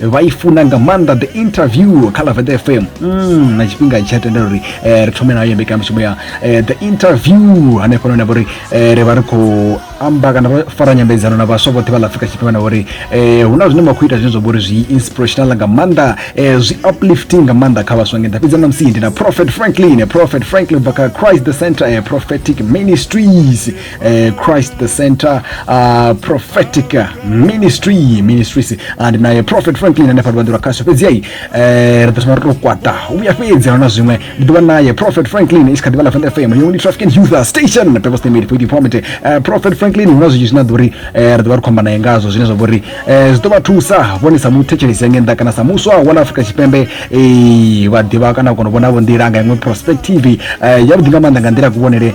vha i funa nga maanḓa the interview kha lavete fm mm, na tshifhinga tsha tendela uri eh, ri thome nayo mbekanyamushumo ya eh, the interview hanefho none vha uri eh, ri vha ri khou amba kana vha fara nyambedzano na vhaswa vhoṱhe vha ḽa afrika tshipembe na uri eh, hu na zwine vha khou ita zwine zwa vha uri zwi inspirational nga maanḓa eh, zwi uplifting nga maanḓa kha vhaswa ngenḓa fhedzi na musi ndi na prophet franklin prophet franklin bva kha christ the center eh, prophetic ministries eh, christ the center uh, prophetic ministry ministries and naye prophet franklin ane fati vhaḓura khasho fhedzi ai eh, ri ḓo thoma ri to kwata vhuya fhedzi ahuna zwiṅwe ndi ḓo vha naye prophet franklin i si kha ḓivha ḽa fanda fm yongni traffic and youth station purpose they made for the format eh, prophet franklin huna zwinzhi zwine a ḓo ri eh, ri ḓo vha ri khou amba naye ngazwo zwine zwa vha uri eh, zwi ḓo vha thusa vhone sa muthetshelesi yange nnḓa kana sa muswa wa ḽa afrika tshipembe eh, vha ḓivha kana u kona u vhonavho nḓila nga iṅwe perspective eh, yavhuḓi nga maanḓa nga nḓila ya kuvhonele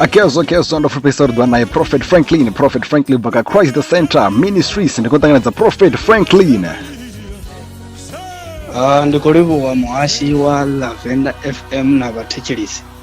akezo kezo ndo fupisa uri naye prophet franklin prophet franklin baka christ the center ministries ndi kutanganidza prophet franklin Ah, ndi khou livhuwa muhashi wa lavenda fm na vhathetshelisi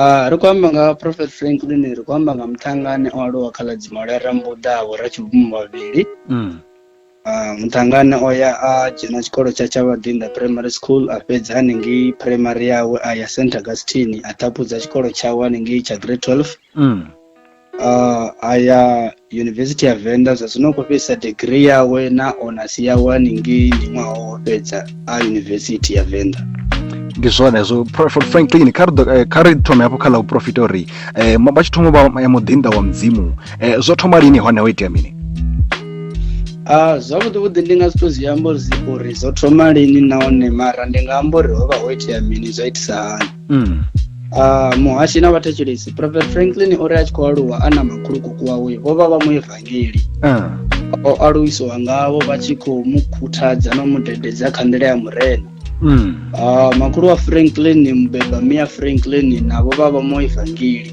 Ah, ri khou amba nga ha prophet franklin ri khou amba nga muṱhangane o aluwa kha ḽa dzimole rambuḓavho ra tshibvumo vhavhili Mm. Ah, muṱhangane o ya a dzhena tshikolo tsha tsha vhaḓinda primary school a fhedza hanengei primary yawe a ya st augustine a ṱhaphudza tshikolo tshawe hanengei tsha grade 12 Mm. uh, aya yunivhesithi ya venḓa zwa zwino khou fhedzisa degree yawe na onasi yawe haningei ndi ṅwaha wo fhedza a yunivhesithi ya venḓa ndi zwone zwo prophet franklin kha eh, ri thome hafho kha ḽa u profita uri um vha tshi thoma vha ya muḓinḓa wa mudzimu um zwo thoma lini hone ho itea mini Uh, zwavhuḓi vhuḓi ndi nga si to zwi amba uri zwo thoma lini nahone mara ndi nga amba uri ho vha ho itea mini zwa itisa hani mm. Uh, muhashi na vhathetshelesi prophet franklin o ri a tshi khou aluwa a na makhulukuku wawe vho vha vha mu evangeli uh. o aluwisiwa ngavho vha tshi khou mu khuthadza na mu dededza kha nḓila ya murena mm. uh, makhulu wa franklin mubeba mia franklin navho vha vha mu evangeli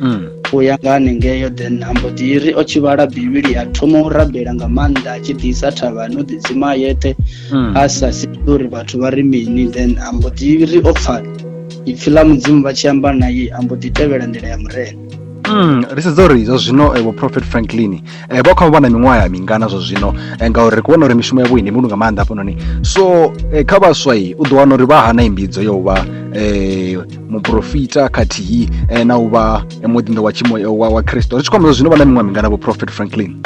mm. u ya nga hanengeyo then ambo ḓi ri o tshi vhala bivhili a thoma u rabela nga maanḓa a tshi ḓisa thavhani u ḓidzima a yeṱhe mm. a sa sii uri vhathu vha ri mini then ambo ḓi ri o pfa ipfi ḽa mudzimu vha tshi amba naye ambo ḓi tevhela nḓila ya murena Mm, ri sedza uri zwa zwino eh, vho prophet franklin eh, vha kha vha na miṅwaha ya mingana zwa zwino eh, ngauri ri kuvhona uri mishumo yavho ndi mulu nga maanḓa hafhanoni so eh, kha vhaswa u ḓo wana uri vha hana imbidzo yo vha eh, muprofita khathihi eh, na u vha eh, muḓinḓa wa tshimo wa, wa kristo ri tshi kwamba zwino vha na miṅwaha mingana vhoprofet franklin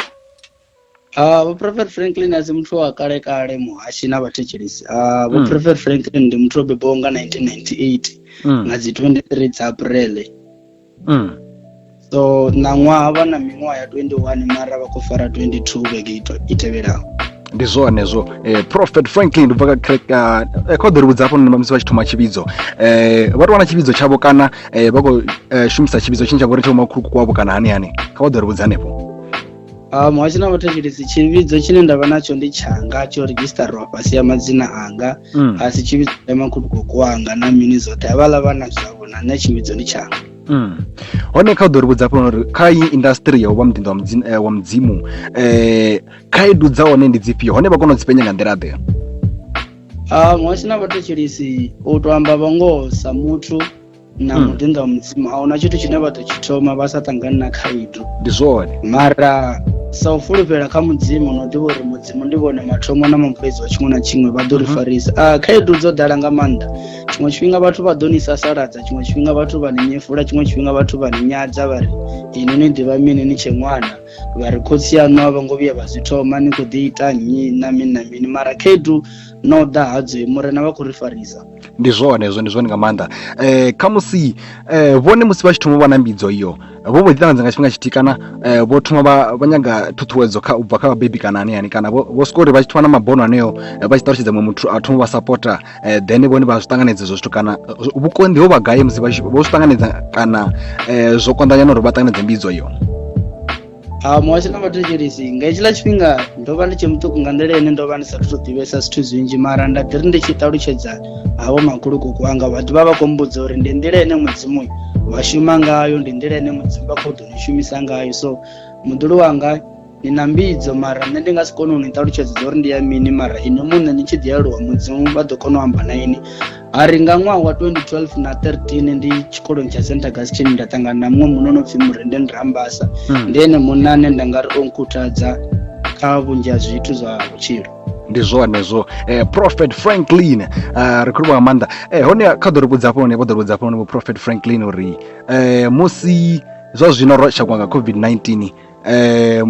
Uh, ah, vhoprofet franklin asi muthu wa kale kale muhashi na vhathetshelisi uh, ah, vhoprofet mm. franklin ndi muthu o bebaho nga 1998 mm. nga dzi 23 dza aprele mm. so ṋaṅwaha vha na miṅwaha ya 21 mara vha khou fara 22 vhege i tevhelaho ndi zwone zwo eh, prophet franklin ndi bva kha eh, kha ḓo ri vhudza hafho musi vha tshi thoma tshivhidzo eh, vha tou wana tshivhidzo tshavho kana eh, vha khou eh, shumisa tshivhidzo tshine tsha vho ri tsha vho makhulukuku wavho kana hani hani kha vha ḓo ri vhudza hanefho Ah, muhasho na vhathetshelesi tshivhidzo tshine nda vha natsho ndi tshanga tsho redzhisitariwa fhasi ya madzina anga Mm, a si tshivhidzo ya makhulukuku wanga na mini zwoṱhe havhaḽa vhana zwavho na nṋe tshivhidzo ndi tshanga mm. hone kha u ḓo ri vhudza fhano uri kha iyi industry ya u vha muḓinḓa wa mudzimu, eh, wa mudzimu eh, khaedu dza hone ndi dzifhio hone vha kona u dzi penya nga nḓila ḓe Ah, muhasho na vhathetshelesi u tou amba vhangoho sa muthu na Mm. muḓinḓa wa mudzimu a huna tshithu tshine vha ḓo tshi thoma vha sa ṱangani na khaedu ndi zwone mara sa u fulufhela kha mudzimu no ḓivha uri mudzimu ndi vhone mathomo na mafhedzi wa tshiṅwe na tshiṅwe vha ḓo ri Mhm. farisa Ah, khaedu dzo ḓala nga maanḓa tshiṅwe tshifhinga vhathu vha ḓo ni sasaladza tshiṅwe tshifhinga vhathu vha ni nyefula tshiṅwe tshifhinga vhathu vha ni nyadza vha ri ini ni ḓivha mini ni tshe ṅwana vha ri khotsi yaṋu a vho ngo vhuya vha zwi thoma ni khou ḓi ita nnyi na mini na mini mara khaedu no ḓa hadzoi murena vha khou ri farisa ndi zwone hezwo ndi zwone nga maanḓa um khamusi um vhone musi vha tshi thoma u vha na mbidzo iyo vho vho ḓi ṱanganedza nga tshifhinga tshithihi kana um vho thoma vha vha nyaga ṱhuṱhuwedzo kha u bva kha vhabebi kana ani ani kana vho vho swika uri vha tshi thoma na mabono aneo eh, vha tshi ṱalutshedza muṅwe muthu a thoma vha sapota um then vhone vha zwi ṱanganedza ezwo zwithu kana eh, vhukonḓi ho vha gai musi vha tshi- vho zwi ṱanganedza kana um zwo konḓanyana uri vha ṱanganedze mbidzo iyo ha muhasho na vhathetshelisi nga hetshiḽa tshifhinga ndo vha ndi tshe muṱuku nga nḓila ine ndo vha ndi sathu to ḓivhesa zwithu zwinzhi mara nda ḓi ri ndi tshi ṱalutshedza havho makhulukuku anga vha ḓivha vha khou mbudza uri ndi nḓila ine mudzimu vha shuma ngayo ndi nḓila ine mudzimu vha khou ḓo ni shumisa ngayo so muḓulu wanga ni na mbidzo mara nṋe ndi nga si kone u ni ṱalutshedza uri ndi ya mini mara inwi muṋe ni tshi ḓi aluwa mudzimu vha ḓo kona u amba na ini a ri nga ṅwaha wa 2012 na 13 ndi tshikoloni tsha st augustine nda ṱangana na muṅwe muno no pfhi murenden rambasa hmm. ndi ene munna ane nda nga ri o nkhuthadza kha vhunzhi ha zwithu zwa vhutshilo ndi zwone zwo eh, prophet franklin uh, ri khou nga maanḓa eh, hone kha ḓo ri vhudza hafho hone vho ḓo ri vhudza hafho hone vho prophet franklin uri eh, musi zwa zwino ro shakwa nga covid-19 eh,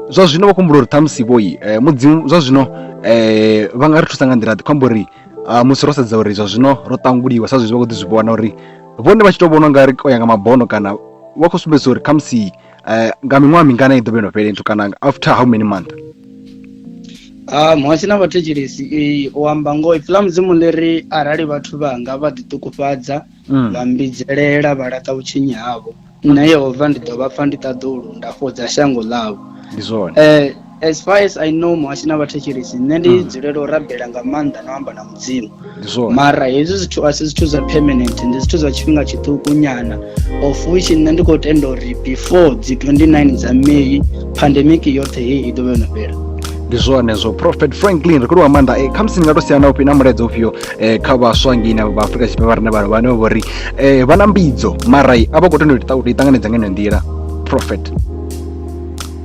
zwa zwino vho kumbula uri ṱhamusi vhoi eh, mudzimu zwa zwino eh, vha nga ri thusa nga nḓila ḓi khou amba uri ah, musi ro sedza uri zwa zwino ro ṱanguliwa sa zwezwi vha khou ḓi zwi vhona uri vhone vha tshi tou vhona ungari o ya nga mabono kana vha khou sumbedzisa uri khamusi um nga miṅwaha mingana i ḓo vha yo no fhela nthu kana after how many month ah, muhasi na vhathetshelesi u amba ngoho ipfi ḽa mudzimu ḽi ri arali vhathu vhanga vha ḓiṱukufhadza mm. vha mbidzelela vha laṱa vhutshinyi havho mm. nṋe yehova ndi ḓo vha pfa ndi ṱaḓulu nda fhodza shango ḽavho ndi zwone eh, as far as i know muhasho na vhathetshelisi nṋe ndi mm. dzulela u rabela nga maanḓa na u amba na mudzimu mara hezwi zwithu a si zwithu zwa permanent ndi zwithu zwa tshifhinga tshiṱuku nyana of which nṋe ndi khou tenda uri before dzi 29 dza may pandemic yoṱhe heyi i ḓo vha yo no fhela ndi zwone zwo prophet franklin ri khou lwa maanḓa e eh, khamusi ni nga to siya na ufhi na mulaedza ufhio eh, kha vhaswa ngei na vha afrika tshipembe vha re na vhana vhane vho ri eh, vha na mbidzo mara a vha khou tenda uri i ṱanganedza nga ino nḓila prophet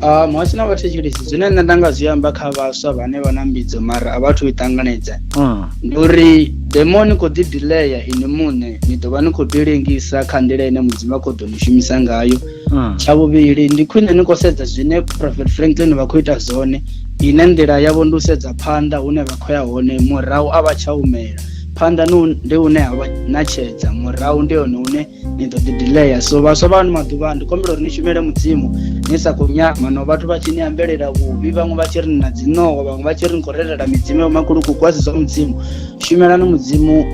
ah, muhasho na vhathetshelesi zwine nṋe nda nga zwi amba kha vhaswa vhane vha na mbidzo mara a vhathu i ṱanganedza hmm. ndi uri demoni khou ḓi dileya ini muṋe ni ḓo vha ni khou ḓi lengisa kha nḓila ine mudzimu a khou ḓo ni shumisa ngayo mm. tsha vhuvhili ndi khwine ni khou sedza zwine prophet franklin vha khou ita zwone ine nḓila yavho ndi u sedza phanḓa hune vha khou ya hone murahu a vha tsha humela phanḓa ndi hune ha vha natshedza murahu ndi hone hune ni ḓo ḓi dileya so vhaswa vha ano maḓuvha ndi kombela uri ni shumele mudzimu ni sa khou nyama no vhathu vha tshi ni ambelela vhuvhi vhaṅwe vha tshi ri na dzinoho vhaṅwe vha tshi ri ni khou relela midzimu ya makulukuku a si zwa mudzimu shumelani mudzimu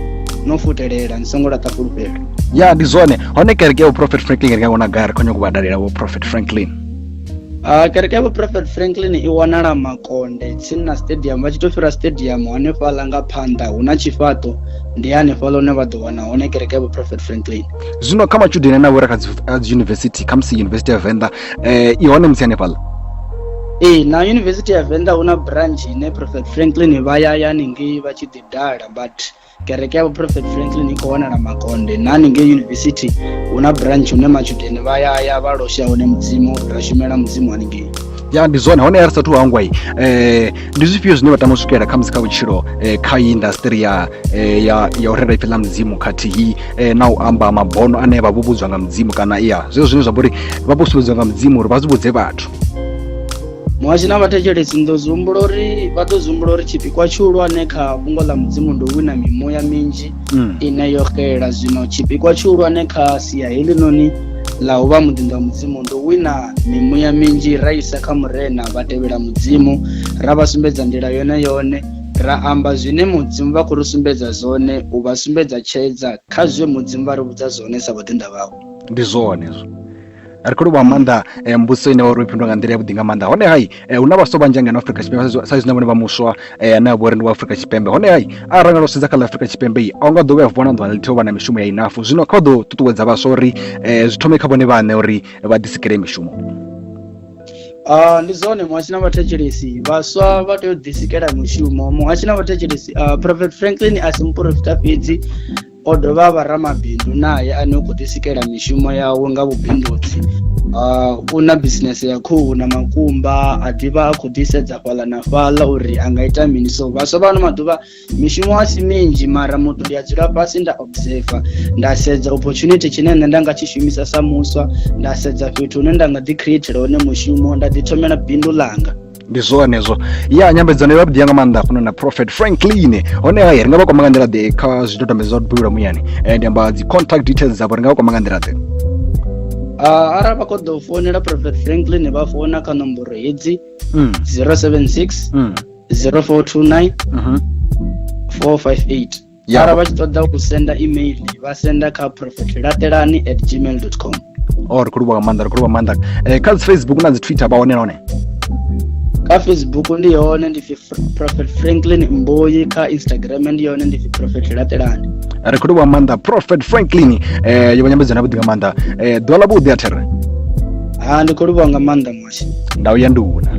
no futelela ni songo laṱa fhulufhelo ya ndi zwone hone kereke ya uprofet franklin ri nga kona gai ri khonyo kuvhadalela uprofet franklin Uh, kereke ya vhuprophet franklin i wanala makonde tsini na stadium vha tshi to fhira stadium hanefhaḽa nga phanḓa hu na tshifhaṱo ndi hanefhaḽa hune vha ḓo wana hone kereke ya vhuprophet franklin zwino kha matshudeni ane avho uri a kha dzi yunivesithi khamusi yunivesithi ya venḓa eh i hone musi hanefhaḽa ee na yunivesithi ya venḓa hu na branch ine prophet franklin vha ya ya ningei vha tshi ḓi dala but kereke ya vhuprophet franklin i khou wanala makonde na haningei yunivesithi hu na branch hune matshudeni vha ya ya vha losha hone mudzimu ra shumela mudzimu haningei ya ndi zwone hone ya ri sathu hangwai um eh, ndi zwifhio zwine vha tama u swikelela khamusi kha vhutshilo eh, kha iyi indasitiri ya, eh, ya, ya u rera ipfi ḽa mudzimu khathihi eh, na u amba mabono ane vha vho vhudzwa nga mudzimu kana ya zwezwo zwine zwa vha uri vha vho sumbedziwa nga mudzimu uri vha zwi vhudze vhathu muhasho na vhathetshelesi ndo zwi humbula uri vha ḓo zwi humbula uri tshipikwa tshihulwane kha fhungo ḽa mudzimu ndi u wina mimuya minzhi mm. ine yo xela zwino tshipikwa tshihulwane kha sia helinoni ḽa u vha muḓinḓa wa mudzimu ndi u wina mimuya minzhi ra isa kha murena vha tevhela mudzimu ra vha sumbedza nḓila yone yone ra amba zwine mudzimu vha khou ri sumbedza zwone u vha sumbedza tshedza kha zwe mudzimu vha ri vhudza zwone sa vhaḓinḓa vhawe ndi zwone hezwo ri khou livhuwa maanḓa eh, mbudziso ine wari ifhindwa nga nḓila ya vhuḓi nga maanḓa hone hai eh, hu na vhaswa vhanzhi ngeno afrika tshipembe sa izwi na vhone vha muswa eh, ane a vhori ndi wa afrika tshipembe hone hai arali nga lwo sedza kha ḽa afrika tshipembe i a u nga ḓo vhuya vona ḓuvha ḽithiho vha na mishumo ya inafu zwino kha u ḓo ṱuṱuwedza vhaswa uri zwi thome kha vhone vhaṋe uri vha ḓisikele mishumo Uh, ndi zwone muhasho na vhathetshelesi vhaswa vha tea u ḓisikela mushumo muhasho na vhathetshelesi uh, ah, prophet franklin a si muporofita fhedzi O dovha a vha ramabindu nae ane u khou ḓisikela mishumo yawe nga vhubindudzi. Uh, u na bisinese ya khuhu na makumba a ḓivha a khou ḓisedza fhaḽa na fhaḽa uri a nga ita mini so vhaswa vhano maḓuvha mishumo a si minzhi mara muthu ndi a dzula fhasi nda observer nda sedza opportunity tshine nṋe nda nga tshi shumisa sa muswa nda sedza fhethu hune nda nga ḓi createla hone mushumo nda ḓi thomela bindu ḽanga ndi zwone hezwo ya nyambedzano yo vhuḓi nga maanḓa funa na prophet franklin hone hayi ri nga vha kwama nga nḓila ḓe kha zwidodombedzwa zwa dubulula muyani eh, ndi amba dzi contact details dzavho ri nga vha kwama nga nḓila ḓe Uh, arali vha khou ḓo founela prophet franklin vha founa kha nomboro hedzi 076 mm. 0429 mm -hmm. 458 Ya. ara vha tshi ṱoḓa u senda email vha senda kha prophet laṱelani at gmail com o ri khou livhuwa nga maanḓa ri khou livhuwa nga maanḓa Eh, kha dzi facebook na dzi twitter vha hone na hone kha facebook ndi hone ndi pfi Fr- prophet franklin mboyi kha instagram ndi hone ndi pfi prophet laṱelani ri khou livhuwa nga maanḓa prophet franklin eh, yo vha nyambedzo na vhuḓi nga maanḓa Eh, ḓuvha ḽa vhuḓi a there ha ndi khou livhuwa nga maanḓa mwashe ndau ya nduna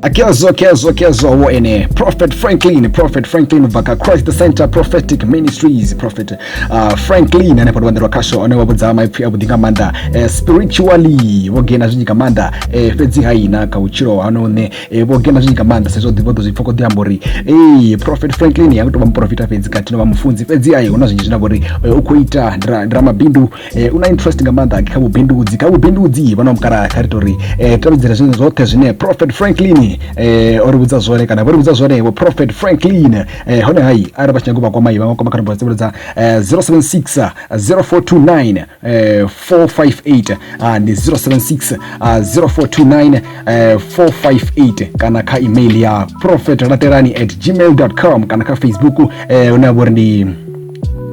kezo kezo kezo wo ene prophet franklin prophet franklin ubva ka christ center prophetic ministries prophet uh, franklin ane pato vandirwa kasho ane vavudza maipfi avhuḓi nga maanḓa eh, spiritually vho gena zwinzhi nga maanḓa eh, fhedzi haina kha vhutshilo hano ne eh, vho gena zwinzhi nga maanḓa sezwo ḓivho ḓo zwi pfha kho ḓi amba uri eh, prophet franklin ya kutovha muprofita fhedzi khathihi no vha mufunzi fhedzi ai hu na zwinzhi zwine vha uri eh, u khou ita ndi ra- ndi ramabindu u na interest nga maanḓa kha vhubindudzi kha vhubindudzi vhana mukalaha kha ri tori um tevhedzela zwine zwoṱhe zwine prophet franklin um o ri vhudza zwone kana vho ri vhudza zwone vho prophet franklin um hone hai arali vha tshi nyaga u vha kwama i vha nga kwama kha nomboro dzivhulodza zero seven six zero four two nine four five eight ndi zero seven six zero four two nine four five eight kana kha email ya prophet latelani at gmail dot com kana kha facebook hune ha vha uri ndi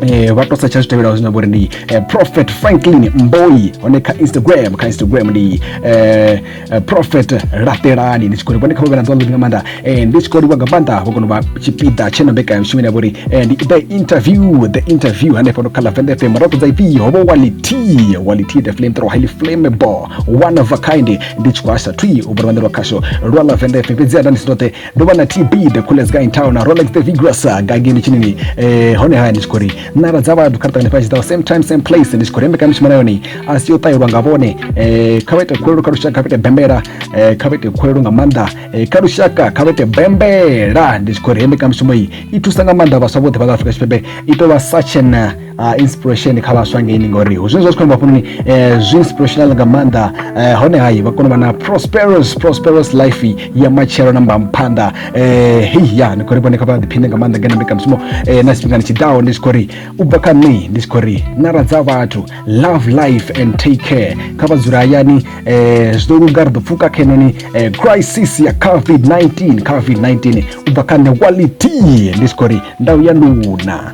eh, vha to setsha zwi tevhelaho zwine vhori ndi eh, prophet franklin mboi hone kha instagram kha instagram ndi eh, eh prophet laṱelani ndi tshi khou ri vhone kha vhavhe na ḓuvha ḽiḓi nga maanḓa eh, ndi tshi khou livha nga maanḓa vho kona u vha tshipiḓa tshe na mbekanyamushumo ine vhori eh, ndi the interview the interview hanefho no kha lavend fm ra ṱoḓa ipi ho vho wality wality the flame throw highly flammable one of a kind ndi tshi khou asa twi u bva luvhanḓe lwa khasho lwa lavend fm fhedzi a nda ndi si toṱe ndo vha na tb the coolest guy in town na rolex the vigorous uh, gageni tshinini eh, hone haya ndi tshi khou ri nara dza vhathu kha ritangane fhasi dzawo same time same place ndi tshi khou ri mbekana mishumo na yone a si yo ṱahilwa nga vhone eh, kha vha ite khulelo kha lushaka kha vha ite bembela eh, kha vha ite khulelo nga maanḓa eh, kha lushaka kha vha ite bembela ndi tshi khou ri mbekana mishumo iyi i thusa nga maanḓa vhaswa vhoṱhe vha ḽa afrika tshipembe i tou vha such an uh, uh, inspiration kha vhaswa ngeini ngori hu zwine zwa tshi khou amba hafhanoni eh, zwi inspirational nga maanḓa eh, hone hayi vha kona u vha na prosperous prosperous life ya matshelo na mbamuphanḓa eh, hei ya ni khou ri vhone kha vha ḓiphine nga maanḓa ngena mbekamishumo eh, na tshifhingani tshiḓaho ndi tshi khou ri u bva kha nṋe ndi tshi khou ri nara dza vhathu love life and take care kha vha dzula hayani eh, zwi ḓo luga ri ḓo pfuka kha henoni eh, crisis ya covid-19 covid-19 u bva kha nṋe wality ndi tshi khou ri ndau ya nduna